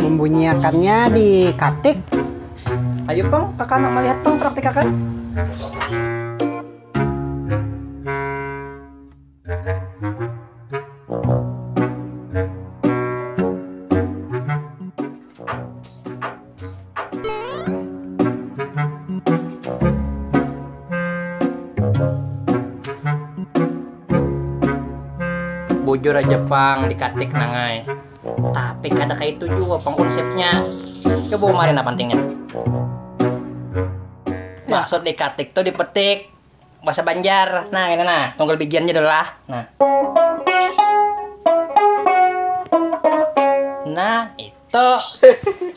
membunyiakannya di katik ayo peng kakak nak melihat peng praktikakan bujur aja pang di katik nangai Tapi kada kaya itu jua pang konsepnya. Coba umari nah pantingnya. Maksud dikatik tuh dipetik. Bahasa Banjar. Nah, ini nah, tunggal bigiannya dulu lah. Nah. Nah, itu.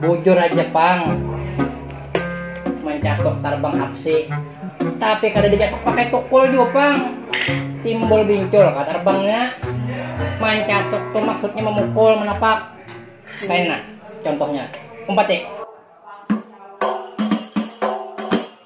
Bujur aja pang mencakup tarbang hapsi tapi kada dicakup pakai tukul juga pang timbul bincul kata tarbangnya mencakup tuh maksudnya memukul menapak kayak nah contohnya umpat ya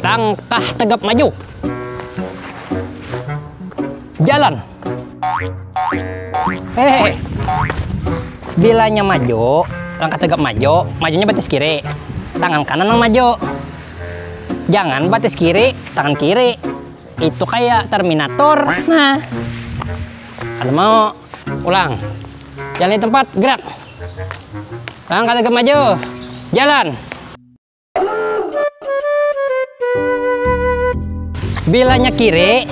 langkah tegap maju jalan hehehe bilanya maju langkah tegap maju majunya batis kiri tangan kanan yang maju jangan batis kiri tangan kiri itu kayak terminator nah ada mau ulang jalan di tempat gerak langkah tegap maju jalan. Bilanya kiri,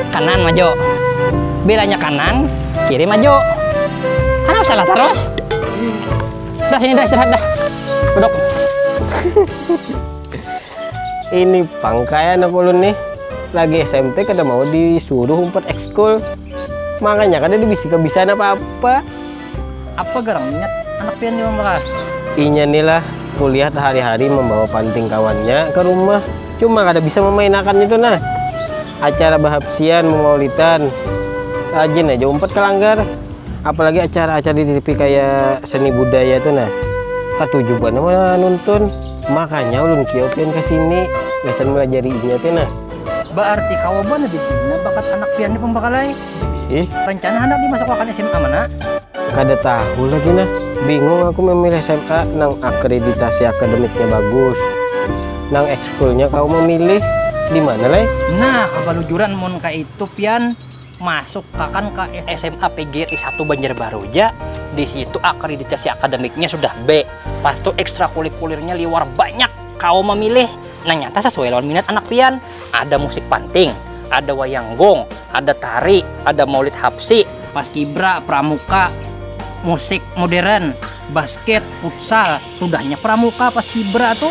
kanan maju. Bilanya kanan, kiri maju. Kenapa salah terus? Dah sini dah istirahat dah. Duduk. Ini pangkai anak ulun nih. Lagi SMP kada mau disuruh umpat ekskul. Makanya kada dibisika bisa apa-apa. Apa garang minyak anak pian ni mambakas? Inya ni lah, kulihat hari-hari mambawa panting kawannya ka rumah, cuma kada bisa mamainakan nitu nah. Acara bahapsian, mamaulitan, rajin haja umpat ka langgar. Apalagi acara-acara di tipi kaya seni budaya tu nah, katuju banar manuntun. Makanya ulun kiau pian ka sini gasan malajari inya tu nah. Baarti kawa banar di dunia bakat anak pian ni pambakalai. ih rencana anak dimasuk akan sma mana kada tahu lagi nah bingung aku memilih sma nang akreditasi akademiknya bagus nang ekskulnya kawa memilih dimana leh nah kabalujuran mun kaya itu pian masuk akan ka sma pgri satu banjarbaru ja disitu akreditasi akademiknya sudah b pastu ekstrakulikulirnya liwar banyak kawa memilih nang nyata sesuai lawan minat anak pian ada musik panting ada wayang gong ada tari ada maulid hapsi paskibra pramuka musik modern basket futsal sudahnya pramuka paskibra tu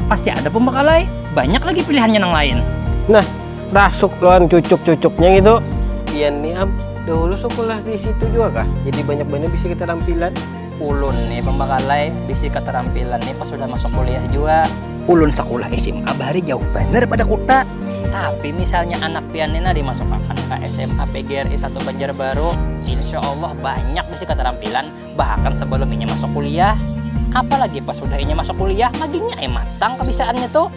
pasti ada pembakalai banyak lagi pilihannya nang lain nah rasuk lawan cucuk cucuknya ngitu pian ni am dahulu sukulah disitu jua kah jadi banyak banyak bisa kita tampilan. Ulun ni pambakalai bisi katarampilan ni pas sudah masuk kuliah jua. Ulun sakulah sma bahari jauh banar pada kuta. Tapi misalnya anak pian ni nah dimasukakan ka sma PGRI satu Banjarbaru, insya Allah banyak bisi katarampilan bahkan sabalum inya masuk kuliah. Apalagi pas sudah inya masuk kuliah, maginnya ai matang kabisaannya tu.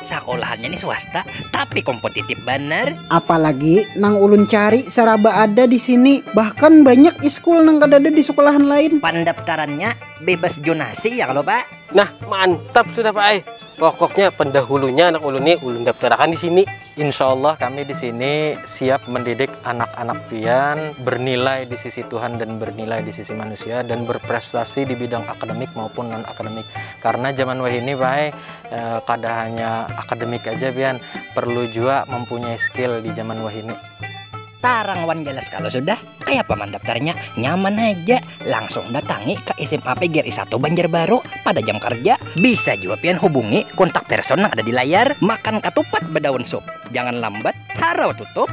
Sakolahannya nih swasta, tapi kompotitip banar. Apalagi nang ulun cari saraba ada di sini, bahkan banyak iskul nang kadada di sekolahan lain. Pandaptarannya bebas jonasi ya kalo Pak? Nah, mantap sudah Pak ai. Pokoknya pendahulunya anak ulun nih ulun daptarakan di sini. Insyaallah kami di sini siap mendidik anak-anak pian bernilai di sisi Tuhan dan bernilai di sisi manusia dan berprestasi di bidang akademik maupun non-akademik. Karena zaman wahini Pak ai, kada hanya akademik aja pian perlu jua mempunyai skill di zaman wahini tarang wan jelas kalo sudah kayapa mandaptarnya nyaman haja langsung datangi ka sma pgri satu banjarbaru pada jam karja bisa jua pian hubungi kontak person nang ada di layar makan katupat badaun sup jangan lambat harau tutup.